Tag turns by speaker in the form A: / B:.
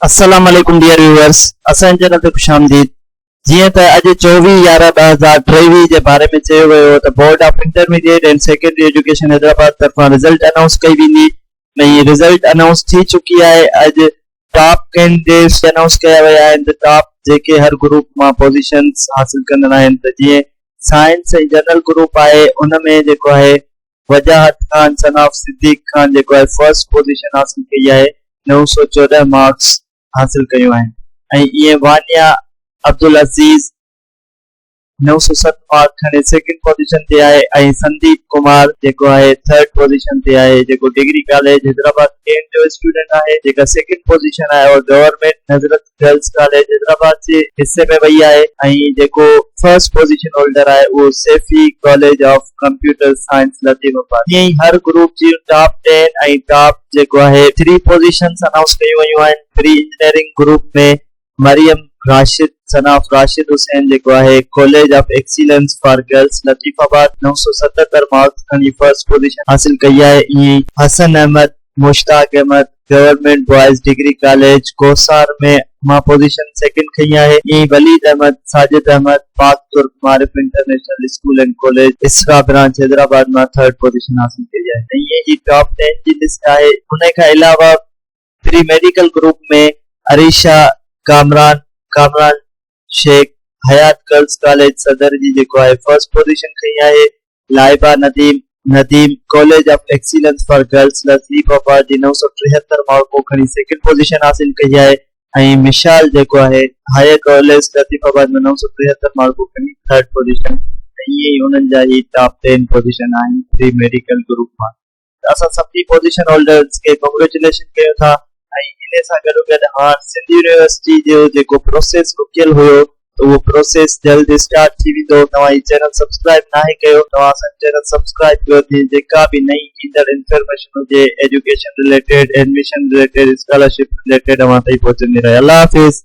A: السلام عليڪم dear viewers اسان جي چينل تي خوش آمديد جيئن ته اڄ چوويهه يارهن ٻه هزار ٽيويهه جي باري ۾ چيو ويو هو ته board of intermediate and secondary education Hyderabad طرفان رزلٽ انائونس ڪئي ويندي ۽ رزلٽ انائونس ٿي چڪي آهي اڄ ٽاپ ڪينڊيڊيٽس به انائونس ڪيا ويا آهن ته ٽاپ جيڪي هر گروپ مان پوزيشنز حاصل ڪندڙ آهن ته جيئن سائنس ۽ جنرل گروپ آهي ان ۾ جيڪو آهي وجاهت خان سن آف صديق خان جيڪو آء فرسٽ پوزيشن حاصل ڪئي آهي نو سؤ چوڏهن مارڪس حاصل ڪيون آهن ۽ ايئن وانيا عبدالعزيز نو سؤ ست مارڪ کڻي سيڪنڊ پوزيشن تي آهي ۽ سنديپ ڪمار جيڪو آهي ٿرڊ پوزيشن تي آهي جيڪو ڊگري ڪاليج حيدرآباد ڪينٽ جو اسٽوڊنٽ آهي جيڪا سيڪنڊ پوزيشن آهي اور government Nusrat girls college Hyderabad جي حصي ۾ وئي آهي ۽ جيڪو فرسٽ پوزيشن هولڊر آهي اهو Saifi college of computer science Latifabad ائين ئي هر گروپ جون ٽاپ ٽين ۽ ٽاپ جيڪو آهي ٿري پوزيشنز انائونس ڪيون ويون آهن pre engineering group ۾ Maryam Rashid son of Rashid Hussain جيڪو آهي college of excellence for girls Latifabad نو سؤ ستهتر مارڪس کڻي فرسٽ پوزيشن حاصل ڪئي آهي ائين ئي Hassan Ahmed Mushtaq Ahmed government boys degree college Kohsar ۾ مان پوزيشن سيڪنڊ کنئي آهي ۽ Walid Ahmed, Sajid Ahmed, Pak Turk Maarif international school and college Isra branch Hyderabad مان ٿرڊ پوزيشن حاصل ڪئي آهي ۽ هي جي ٽاپ ٽين جي لسٽ آهي انهي کان علاوه pre medical group ۾ Areesha Kamran, Kamran Shaikh, Hayat girls college Saddar جي جيڪو آهي فرسٽ پوزيشن کنئي آهي Laiba Nadeem, Nadeem، college of excellence for girls لذيب آباد جي نو سؤ ٽيهتر مارڪون کڻي سيڪنڊ پوزيشن حاصل ڪئي آهي ۽ مشال جيڪو آهي هاء ڪاليج لطيف آباد ۾ نو سؤ ٽيهتر مارڪون کڻي ٿرڊ پوزيشن ۽ ايئن ئي انهن جا هي ٽاپ ٽين پوزيشن آهن پري ميڊيڪل گروپ مان. اسان سڀني پوزيشن هولڊرز کي ڪنگريچوليشن ڪيون ٿا ۽ ان سان گڏوگڏ هاڻ سنڌ يونيورسٽي جو جيڪو پروسيس رڪيل هيو ته اهو پروسيس جلد اسٽارٽ ٿي ويندو توهان هي چينل سبسڪرائيب ناهي ڪيو توهان اسان جو چينل سبسڪرائيب ڪيو جيئن جيڪا به نئين ايندڙ انفرميشن هجي education related admission related scholarship related اوهان تائين پهچندي رهي الله حافظ.